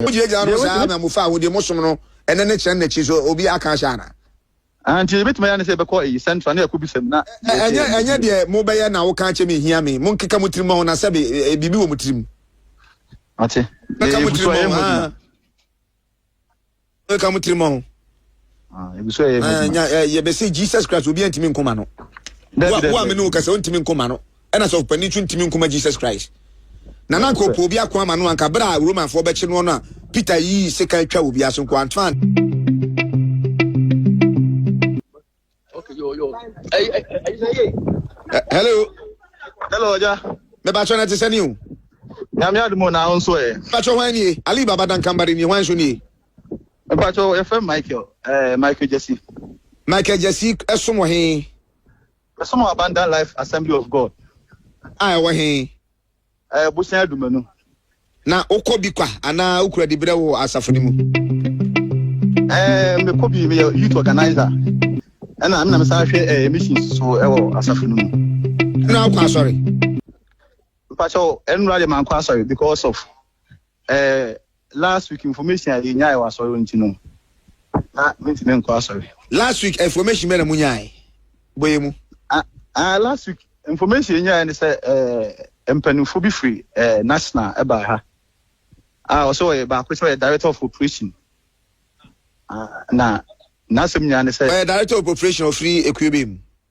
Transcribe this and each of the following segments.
Mo gyinagyina no saa na mo fa deɛ mo som no ɛnɛ no kyerɛ no n'akyi so obi aka ahyɛ anaa? Ahaa nti yɛbɛtumi ayɛ ne sɛ yɛbɛkɔ eyi central na yɛakɔ bisa mu na yɛhwɛ Ɛnyɛ yɛn ɛnyɛ deɛ mo bɛyɛ na wo ka akyɛ me nhia me mo nkeka mo tiri mɔ ho na sɛbe biribi wɔ mo tiri mu. Mate. Nkeka mo tiri mɔ ho haa. Nkeka mo tiri mɔ ho. Ah, ebi so ɛyɛ ho adwuma. Yɛbɛsɛ Jesus Christ obi antimi nkoma no. Wo a me ne wo kasa ontimi nkoma no. na sɔfo panin nso ntumi nkɔma Jesus Christ. Na na anka ɔpɛ obi ako ama no anka berɛ a Romanfoɔ bɛkye noɔ no a Peter yii sekan twa wɔ biara so nko antoa Hello. Hello, Oja. Mebachọ na ti sani o. Nyame adumo na ahụ nso e. Mebachọ hwan nie? Ali Baba Dankambari ni hwan nso nie? Mebachọ efe Michael, eh, Michael Jesse. Michael Jesse ɛsom wɔ he? Yɛsom wɔ Abundant Life Assembly of God. A ɛwɔ he? Ɛyɛ Bosia Adumanu. Na wokɔ bi kwa anaa wokura dibrɛ wɔ asafo no mu? Ɛɛ, mekɔ bi. Meyɛ youth organizer. Ɛna me na mesan hwɛ ɛɛ missions so ɛwɔ asafo no mu. Ɛna wokɔ asɔre? Mpakyɛw, ɛnora deɛ mankɔ asɔre because of Eh last week information a yɛ nyae wɔ asɔre hɔ nti no na mentumi nkɔ asɔre. Last week information bɛ na mo nyae bɔ yɛ mu? Ah, ah last week information yɛ nyae ne sɛ eh, mpanimfoɔ bi firi eh, national ɛbaa ha a ah, ɔsɛ ɔyɛ baako sɛ ɔyɛ director of operation ah, na n'asɛm nyinaa ne sɛ ɔyɛ director of operation ɔfiri ekuo bɛ mu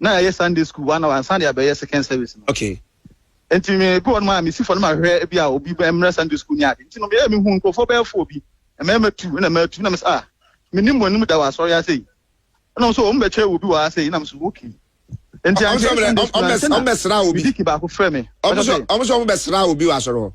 na ɛyɛ Sunday school one hour ansa de abɛyɛ second service no. Okay. Nti me bi wɔn a mesi fɔ no ma hwɛ ebi a obi bɛ mmerɛ Sunday school ni ade. Nti no meyɛ mehu nkurɔfoɔ bɛyɛ fo bi. Mmarima tu na mmaa tu na mesɛ ah menim wɔn anim da wɔ asɔre ase yi. Ɛna wɔn so wɔn bɛkyɛ wɔ bi wɔ ase yi na mesɛ okay. Nti ankyɛ Sunday school ankyɛ na mediki baako frɛ me. Wɔn so wɔn bɛsra obi wɔ asɔre hɔ.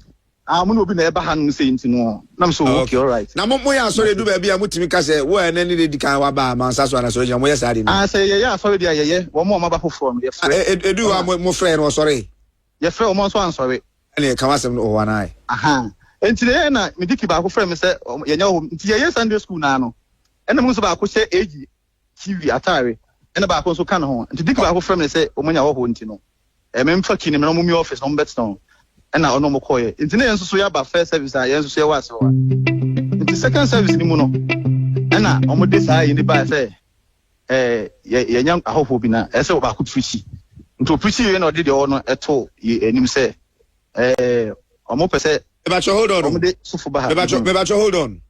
Ah mo ne obi na ɛba ha nom sei nti no nam so oh, okay alright. Na mo mo yɛ asɔre edu baabi a mo tumi ka sɛ wo a ɛnɛ ne di kan waba a mansa so anasɔre gyina mo yɛ saa de no. Ah sɛ yɛyɛ asɔre deɛ yɛyɛ wɔn a wɔaba foforɔ no yɛfrɛ. Ah, e, e, edu hɔ a mo mo frɛ no ɔsɔre. Yɛfrɛ wɔn nso ansɔre. Ɛna ɛka wasɛm no ɔwɔ anaa. Aha nti na yɛyɛ na mediki baako frɛ me sɛ yɛnyɛ hɔ nti yɛyɛ Sunday school naa no ɛna mo nso baako hyɛ age TV, atare, ɛna baako nso ka ne ho. Nti Dick baako frɛɛ me sɛ wɔn anya hɔhoɔ nti no, memfa key no mmra na wɔmmue office na wɔmmɛtena hɔ. Ɛna ɔne wɔn kɔeɛ. Nti na yɛn nso so yɛaba first service a yɛn nso so yɛwɔ ase hɔ a. Nti second service no mu no, ɛna wɔde saa yei no baeɛ sɛ ɛɛ yɛanya ahɔhoɔ bi na ɛsɛ ɔbaako preachi. Nti ɔpreachi wei na ɔde deɛ ɔwɔ no ɛto yɛn anim sɛ ɛɛ wɔpɛ sɛ Mebakyɛ hold on o. wɔde sofo ba ha. Mebakyɛ, mebakyɛ hold on.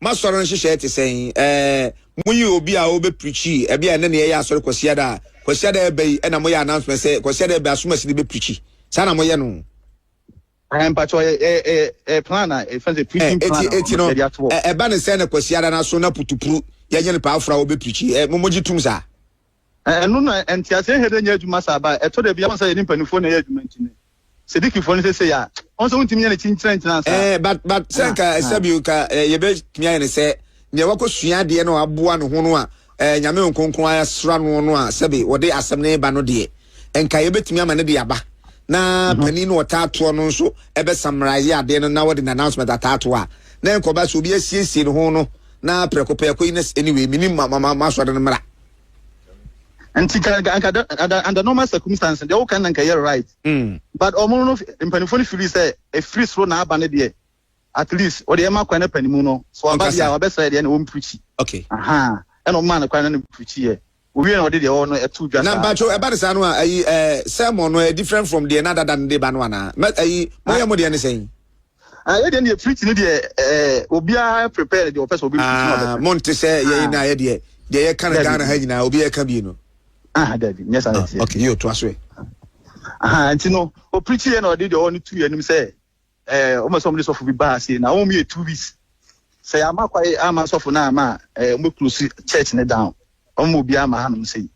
M'asɔre no nhyehyɛe te sɛn? Ɛɛ, moyi obi a ɔbɛprikyi. Ɛbia ɛnɛ na yɛyɛ asɔre Kwasiada a, Kwasiada ɛba yi ɛna moyɛ announcement sɛ Kwasiada ɛba asomasi no bɛprikyi. Saa na moyɛ no. Ɛɛ, mpakyɛ ɔyɛ ɛɛ ɛɛ ɛɛ plan a ɛfɛn sɛ preaching plan a ɛti no ɛba ne sɛ na Kwasiada no aso na putupuru yɛnyɛ no paafra ɔbɛprikyi. Ɛɛ, mo mogye tum saa? Ɛno na ntease nhɛ dɛ nyɛ adwuma saa ba. Ɛtɔ da bi a, wohu sɛ yɛne mpanimfoɔ na ɛyɛ adwuma nti no, sɛ Dikifoɔ no sesei a, wohu sɛ wontumi nyɛ no kyinkyinankyina saa. Ɛɛ, but, but, sɛ nka, sɛbio, nka eh, yɛbɛtumi ayɛ no sɛ, nea wakɔsua adeɛ na waboa ne ho no a, eh, Nyame Nkonkron asra noɔ no a, sɛbe, wɔde asɛm no reba no deɛ, nka yɛbɛtumi ama no de aba. Na mhm. panin no ɔtaa toɔ no nso ɛbɛ summarize adeɛ no na wɔde no announcement ataa toɔ a, na nkɔba sɛ obi asiesie ne ho no, na prɛko prɛko yi, na anyway, menim masɔre no mmara. nti ka nka nka under under normal circumstance deɛ woka na nka yɛ right mm. but ɔmo no mpanimfoɔ no firi sɛ efiri soro na aba ne deɛ at least ɔde ɛma kwan na panimu no so aba deɛ a wabɛsrɛ deɛ na wɔn pirikyi ɛna ɔmo maa no kwan na ne pirikyi yɛ owie na ɔde deɛ ɔwɔ no ɛto dwa saa. na mpatsɔ ɛba de saa no a ayi ɛɛ sɛmɔn no ɛ different from deɛ n'adada no de ba no ana mɛ ayi mo yɛ mo deɛ ne sɛn. Ah, yɛ deɛ deɛ treat ne deɛ eh, obiara prepare deɛ ɔpɛ sɛ obi treat no ɔbɛka. Monte sɛ yɛn na yɛ deɛ deɛ yɛka no Ghana ha nyinaa obi ɛka bi no. Ah, dabi, nyɛ saa ɛteɛ. Okay, yɛ otoa so ɛ. Aha, nti no, opreach yɛ na ɔde deɛ ɔne tu yɛ anim sɛ eh, ɔmɛ sɛ ɔmo de sɔfo bi baa ase na ɔmo yɛ two weeks. Sɛ yɛama kwae ama sɔfo no ama eh, ɔmo close church ne down. Ɔmo obiara ma hanom sei.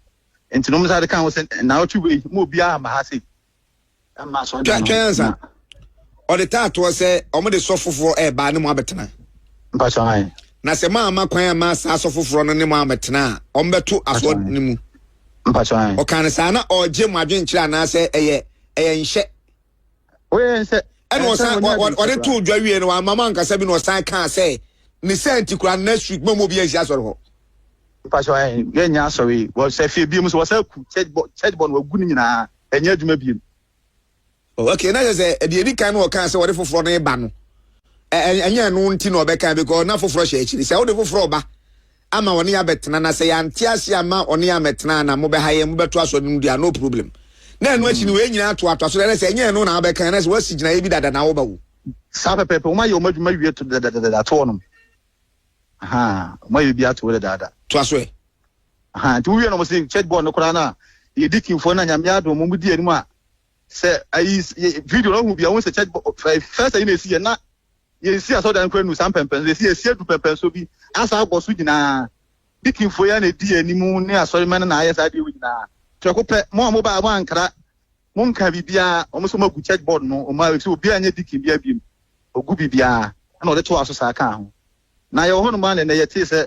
Nti no ɔmo sɛ ade ka ho sɛ na ɔtwe wei, ɔmo obiara ma ha sei. Twɛn twɛn ansa. Ɔde taa toɔ sɛ wɔn de sɔ foforɔ ɛɛba ne mo abɛtena. Na sɛ mo ama kwan ama saa sɔ foforɔ no ne mo amɛtena a, wɔn bɛto asoɔ ne mu. Ɔka ne saa na ɔregye mo adwenkyerɛ anaasɛ ɛyɛ ɛyɛ nhyɛ. Ɛna ɔsan ɔde too dwa wie no wama mo ankasa bi na ɔsan kaa sɛ ne sɛ nti kura next week mo mo bi ansi asɔre hɔ. Mpatsɔ yɛ nyɛ asɔre wɔ sɛ fie bi mu so wɔ sɛ ku church bɔ church bɔ no wagu ne nyinaa. ɛnyɛ adwuma bio. Oh, okay, na kyerɛ sɛ ɛde edi kan no ɔkaa sɛ wɔde foforɔ no reba no, ɛnyɛ ɛno nti na ɔbɛka because na foforɔ hyɛ akyiri. Sɛ wode foforɔ ba ama wɔne abɛtena na sɛ yɛante ase ama wɔne amɛtena na mobɛha yɛn mobɛto asɔre no mu deɛ no problem. Na ɛno akyi no wɔn nyinaa to ato aso na sɛ ɛnyɛ ɛno na abɛka na sɛ wɔasi gyinaeɛ bi dada na woba wo. Saa pɛpɛɛpɛ, wɔn ayɛ wɔn adwuma wie to dadaadada ato wɔn. Wɔn ayɛ bi ato dadaada. To aso ɛ. Ahaa nti wowie no ɔmo se church board no koraa na yɛdi kimfoɔ na nyame adom ɔmo di anim a sɛ ayi video no ɔhu bia wohu sɛ church board first ayi na esi yɛ na yɛnsi asɔdan kora nu saa mpɛmpɛnso yɛsi yɛsi adu pɛmpɛnso bi asa abɔ so nyinaa di kimfoɔ yɛ na edi anim ne asɔremɛ no na ayɛ saa deɛ nyinaa prɛko pɛ mo a mo baa mo ankara mo nka biribiara ɔmo sɛ ɔmo agu church board no ɔmo ayɛ sɛ obiara nyɛ di kim bia biem ogu biribiara na ɔde to aso saa kaa ho na yɛwɔ hɔ nom a na yɛtee sɛ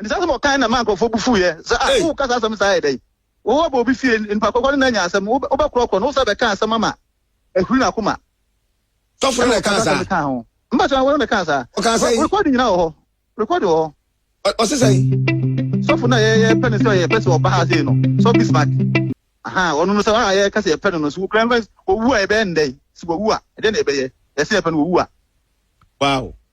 Nti saa asɛm a ɔkae no na ɛmaa nkurɔfoɔ bo fuiɛ sɛ, Ah, Ei! woreka saa asɛm saa yɛ dɛn? Wo aba obi fie, nipa korɔkorɔ ne no anya asɛm, wo wobɛkorɔkorɔ no, wo san bɛka asɛm ama ahuri n'akoma. Tɔfo no na ɛkaa saa. Ɛna ɔkaa saa asɛm no kaa ho. Mpakyɛ, wɔno na ɛkaa saa. Ɔkaa sɛn? Recording nyinaa wɔ hɔ. Recording wɔ hɔ. Ɔ- Ɔse sɛn? Sɔfo no a yɛ- yɛpɛ no sɛ ɔyɛ pɛ sɛ ɔba ha sei no, Sɔfo Bismarck. Aha, ɔno no sɛ a yɛka sɛ yɛpɛ no no, so wokura mfa- owu a ɛbɛyɛ no dɛn? Sɛ wawu a, ɛdeɛ na ɛbɛyɛ? Yɛse yɛpɛ no, wawu a. Wow.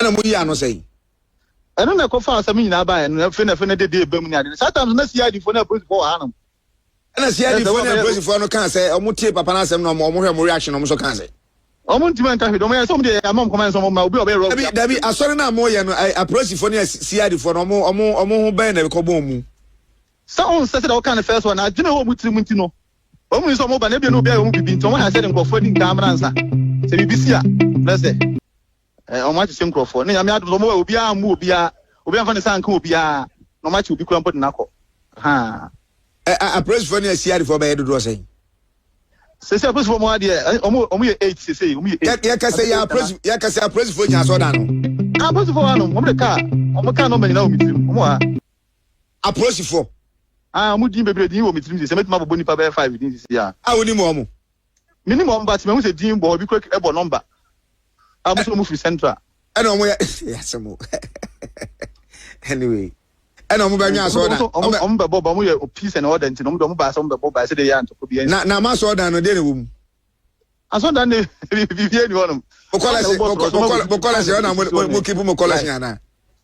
ɛna mo yii ano sɛn. Ɛno na ɛkɔfa asɛm nyinaa baeɛ no afei na afei na dede ɛbam ne ade no saa tam so na CID foɔ ne apolisifoɔ wɔ hanom. Ɛna CID foɔ ne apolisifoɔ no kaa sɛ wɔn tie papa no asɛm na wɔn hwɛ wɔn reaction na wɔn nso kaa sɛ. Wɔn ntumi nka hwee de wɔn yɛ sɛ wɔn deɛ ama wɔn kɔman sɛ wɔn ma obi a ɔbɛyɛ rɔbi. Dabi dabi asɔre na wɔn yɛ no apolisifoɔ ne CID foɔ no wɔn wɔn wɔn ho bɛn na ɛkɔ bɔn mu. Sɛ wɔn nsɛ sɛ deɛ wɔka no fɛs wɔ na adwene wɔ wɔn tirim nti no Wɔn mu sɛ wɔba na ebia na obi ayɛ wɔn biribi nti wɔn ha sɛ de nkurɔfoɔ adi nkaa mmra nsa sɛ biribi si a na sɛ eh, wɔn akyekye nkurɔfoɔ ne nyame adom sɛ wɔn wɔ obiara mmu obiara obiara mfa ne nsa nka obiara na wɔn akye obi kura mpo de n'akɔ haa. Apolisifoɔ ne asiadefoɔ bɛyɛ dodoɔ sɛn? Sese apolisifoɔ wɔn adeɛ wɔn eh, wɔn yɛ eight sese wɔn yɛ eight. Yɛ kɛse yɛ apolisi yɛ kɛse apolisifoɔ nyɛ asɔɔdan no. Apolisifoɔ wɔn anom wɔn de kaa wɔn kaa nɔmba nyinaa wɔn tirim wɔn wɔ ha. apolisifoɔ. Ah ɔmo din bebree din wɔ me tirim sɛ sɛ mɛtumi abobɔ nipa bɛyɛ five din sisi a. A wonim wɔn mo? Me nim wɔn but mahu sɛ din bɔ hɔ bi kura ɛbɔ number a ɔmo sɛ ɔmo firi central. Ɛna ɔmo yɛ yasɛm o anyway ɛna ɔmo bɛ nwa asɔrɔ dan ɔmo bɛ bɔ ba ɔmo yɛ peace and order nti na ɔmo de ɔmo ba asɛ ɔmo bɛ bɔ ba ɛsɛ de yɛ antɔkɔ bi ɛnsi. Na na ama asɔrɔ dan no deɛ na ɛwɔ mu. Asɔrɔ dan ne biribi ɛni hɔ nom. Mo kɔlɛsi mo kɔlɛsi ɔna mo mo kipu mo kɔlɛsi ana.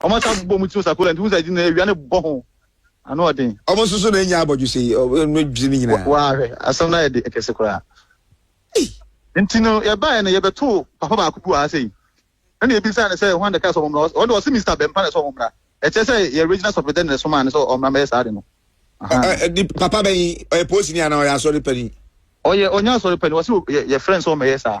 Ɔmo asan abobɔ ɔmo ti wɔ Sakola nti wohu sɛ ɛgye na awia no bɔ ho ano ɔden. Ɔmo nso so na enya abɔdwesɛ yi ɔmo dwesɛ ne nyinaa. Waa hwɛ asɛm no ayɛ de kɛse koraa. Ei. Nti no yɛbaeɛ no yɛbɛtoo papa baako bi wɔ ha sei ɛna yɛbisaa no sɛ hwan na ɛkaa sɛ ɔmo mmra hɔ ɔno deɛ ɔse Mister Bɛmpa na ɛsɛ ɔmo mmra ɛkyerɛ sɛ yɛ regional sɔfredɛ na ɛsomaa no sɛ ɔmmra mmɛyɛ saa ade no. Ahaa. Papa bɛn yi ɔyɛ polisini anaa ɔyɛ asɔre panin? Ɔyɛ ɔnyɛ asɔre panin ɔse yɛfrɛ no sɛ ɔmmɛyɛ saa.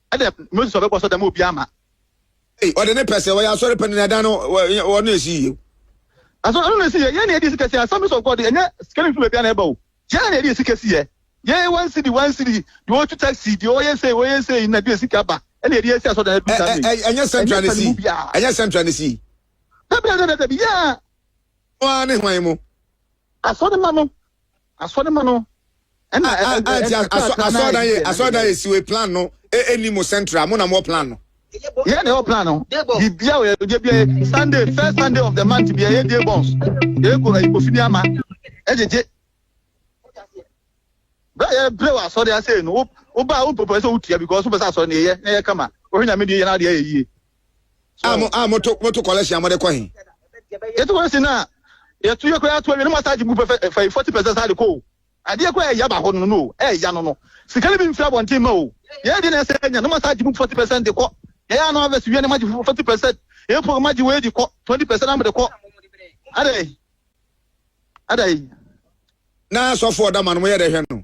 Ɛdɛ Moses ɔbɛ bɔsɔ dɛm obi ama. Ei ɔde ne pɛ sɛ ɔyɛ asɔre pɛ ne na ɛdan no ɔno na esi yie. Asɔre ɔno na esi yɛ yɛn na yɛde esi kɛse assemblies of God ɛnyɛ sika ne nfiri baabi a na ɛba o yɛn na yɛde esi kɛse yɛ yɛn one cedi one cedi deɛ ɔtu taxi deɛ ɔyɛ sei ɔyɛ sei na deɛ sika ba ɛna yɛde esi asɔre dan ɛdu saa ɛɛ ɛɛ ɛnyɛ central na esi ɛnyɛ central na esi. Dabi dabi dabi dabi yɛɛ. Wɔn a ne hwan mu. Asɔre ma no. Asɔremma no ɛna ah, ah, ah, asɔrdan yɛ asɔrdan yɛ siwe plan no ɛni e, mo central mo na mo plan no. yɛ na ɛwɔ plan no bibia wɔ yɛ bia mm. sunday first sunday of the month bia yɛ die bɔns yɛ kɔ ɛyi kofi ni ama ɛgyegye bɛrɛ yɛ bere wɔ asɔre ase no wo ba wo pɔpɔ ɛsɛ wo tia because wo pɛ sɛ asɔre na yɛ na yɛ kama wɔhwɛ nyame deɛ yɛ na adeɛ yɛ yie. a mo a moto moto collection a mode kɔ he. Yɛte kɔ si na yɛto yɛ koraa to awie na mo asan gye gu pɛfɛ fa yi forty percent saa de kɔ o adeɛ koraa ɛya ba hɔ no no o ɛya no no sika no bi mfiri abɔnten ma o yɛyɛ deɛ na ɛsɛ ɛnya na mo asan gye mu forty percent de kɔ yɛyɛ ano avɛsi wia na mo agye forty percent yɛyɛ pɔ mo agye wei de kɔ twenty percent na mo de kɔ adai adai. Na asɔfo ɔda ma no mo yɛ dɛ hwɛ no.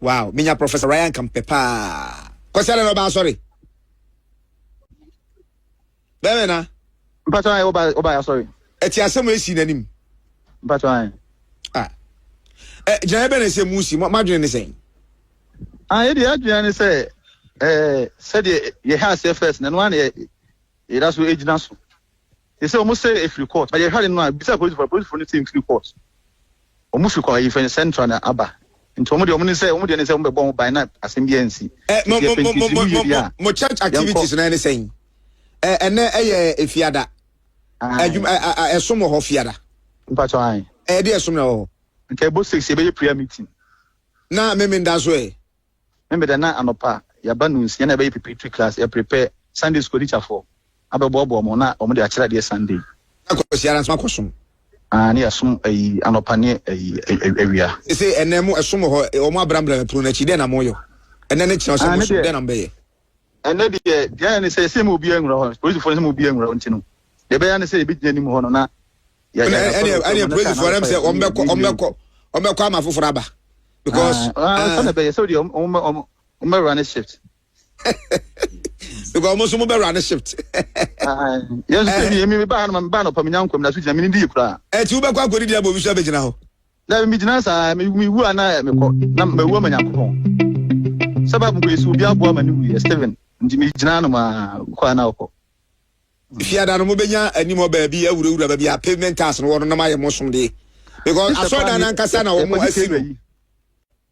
Wow me nya professor Ryan ka mpɛ paa Kwasi adɛ na ɔba asɔre bɛmɛ na. Mpatsɔ ayɛ ɔba ɔba ayɛ asɔre. Ɛti asɛm esi n'anim. Mpatsɔ ayɛ. Ah ɛ gyinaeɛ bɛ na ɛsɛ mu si mo adwene ne sɛn. Ah yɛ deɛ adwene ne sɛ ɛɛ sɛdeɛ yɛ ha aseɛ first na ɛno ara na yɛ yɛda so egyina so Te sɛ wɔn sɛ efiri court na yɛ hwɛ ade no a bisa polisifo na polisifo no sɛ nfiri court wɔn firi kɔ yɛfɛ no central na aba nti wɔn deɛ wɔn ne sɛ wɔn deɛ ne sɛ wɔn bɛbɔ ho ban na asɛm biara nsi eh, mo, mo, mo, mo, mo, mo church activities na ɛne sɛn eh, ɛnɛ ɛyɛ efiada adwuma eh, eh, eh, ɛsom wɔ hɔ fiada mpatɔ an ɛyɛ de ɛsom na wɔ hɔ nka ɛbɔ six yɛbɛyɛ prayer meeting na meme nda so ɛ Me meda na anɔpa yɛaba nunsia na yɛbɛyɛ preparatory class, yɛ prepare Sunday school atikyafoɔ abɛboaboa wɔn na wɔn de akyerɛ adeɛ Sunday. Na Kwasiada nso akɔ som. Ah ne yɛsom ayi anɔpa ne ayi awia. Sese ɛnɛ mo ɛsom wɔ hɔ wɔn abrambra pono no akyi dɛn na mo yɛ? Ɛnɛ ne kyerɛ sɛ mo som dɛn na mo bɛyɛ? ɛnɛ deɛ deɛ ne sɛ sɛ mu obi anwura hɔ polisifoɔ no sɛ mu obi anwura hɔ nti no deɛ ɛbɛyɛ ne sɛ yɛbɛgyina anim hɔ no na ɛne polisifoɔ no sɛ ɔmbɛkɔ ɔmbɛkɔ ɔmbɛkɔ ama foforɔ aba because sɛne bɛyɛ sɛ deɛ ɔmbɛwura ne shift because ɔmo nso mo bɛwura ne shift yɛn nso sɛ mi mi ba ha no ma mi ba ha no pa mi nya nkɔm na so gyina mi ni di yɛ koraa ɛti wobɛkɔ akɔdi di abɔ bi so abɛgyina hɔ Na me gyina saa me wu a na me kɔ na me wu ama Nyankopɔn sɛ Bible kɔ si obi aboa ma ne wu yɛ Steven nti me gyina no ma kɔ a na ɔkɔ. Fiada no mo bɛnya anim hɔ baabi awurawura baabi a pavement tiles no wɔ no na mo ayɛ mo somdeɛ because asɔredan no ankasa na wɔn asi no.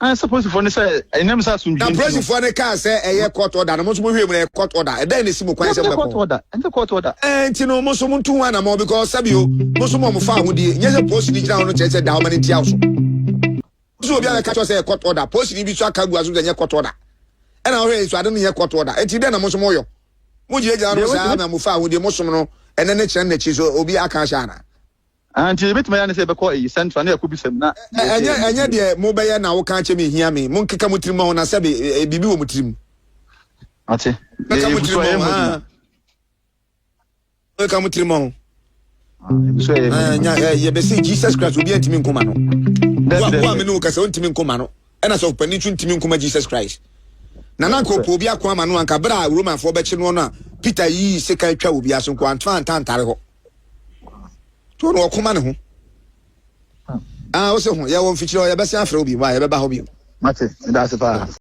ansa polisifoɔ no sɛ ɛnam sɛ asomdwie nti no. na polisifoɔ no kaa sɛ ɛyɛ court order no mo nso mo hwɛ mu na ɛyɛ court order ɛdɛn na esi mo kwan sɛ mo bɛkɔ court order ɛnyɛ court order ɛɛ nti no mo nso mo ntu ho anamɔ because sɛbi o mo nso mo mo fa ahodie nyɛ sɛ polisi ni gyina hɔ no kyerɛ sɛ da ɔma no nti awo so nso obi abɛka kyerɛ sɛ ɛyɛ court order polisi ni bi so aka gu aso sɛ ɛnyɛ court order ɛna ɔhwɛ nso ade no nyɛ court order ɛti dɛn na mo nso mo yɔ mo gyina gyina no saa na mo fa ahodie mo som no ɛnɛ ne kyerɛ n'akyi so obi aka ahyɛ ana. Ah nti ebetumi ayɛ ne sɛ yɛbɛkɔ eyi central na yɛakɔbisa mu na Ɛ yɛde ɛnyɛ ɛnyɛ deɛ mobɛyɛ na woka akyɛ me nhia me monkeka mo tirim ho na sɛbe ɛ, ɛ, biribi wɔ mo tirim Ate. mɛka Yɛ mo yɛbusu tirim a ho yɛmmɔ ah. adwuma. mɛka mo tirim ho Ah, yɛbusu a yɛmmɔ Ah, adwuma. nya- eh, yɛbɛse jesus christ obi antimi nkoma no Dɛbi, Wo- dɛbi, wo a me dɛbi. ne wo kasa wontimi nkoma no ɛna sɛ ɔpani nso ntimi nkoma jesus christ na na anka ɔpɛ obi ako ama no anka berɛ a romanfoɔ bɛkye noɔ no a peter yii sekan twa obi aso nko antoa antantare hɔ to no ɔkoma ne ho a ah, wose ho yɛwɔ mfikyiri hɔ yɛbɛsɛ afrɛ wo bio a yɛbɛba hɔ bio mate medase paa